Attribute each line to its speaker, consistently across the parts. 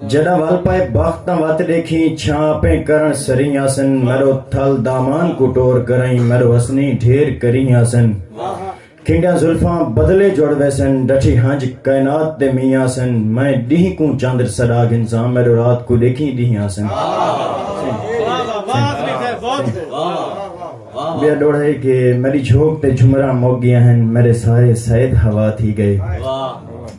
Speaker 1: جݙاں ول پئے بخت تاں وت ݙیکھیں چھاں اپیں کرݨ سریں آسن میݙو تھل دامان کوں ٹور کرئیں میݙو حسنیں ڈھیر کریں آسن کھنڈیاں زلفاں بدلے جڑ ویسن ݙٹھی ہنج کائنات دے مینہ آسن میں ݙینہہ کوں چندر سݙا گھنساں میݙو رات کوں ݙیکھیں ݙینہہ آسن ٻیا ݙوڑھ ہے کہ میݙی جھوک تے جھمراں مک ڳیاں ہن میݙے سائے سید ہوا تھی ڳئے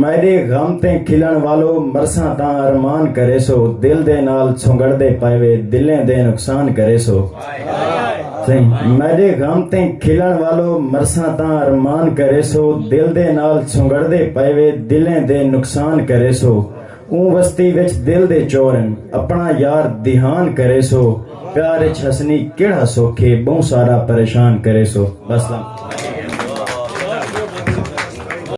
Speaker 1: میڈے غم تے کھلݨ والو مرساں تاں ارمان کریسو دل دے نال سنگڑدے پئے وے دلیں دے نقصان کریسو میڈے غم تے کھلݨ والو مرساں تاں ارمان کریسو دل دے نال سنگڑدے پئے وے دلیں دے نقصان کریسو اوں وستی وچ دل دے چور ہن اپݨا یار دیہان کریسو پیار اچ ہسنی کیڑھا سکھ اے ٻہوں سارا پریشان کریسو وسلام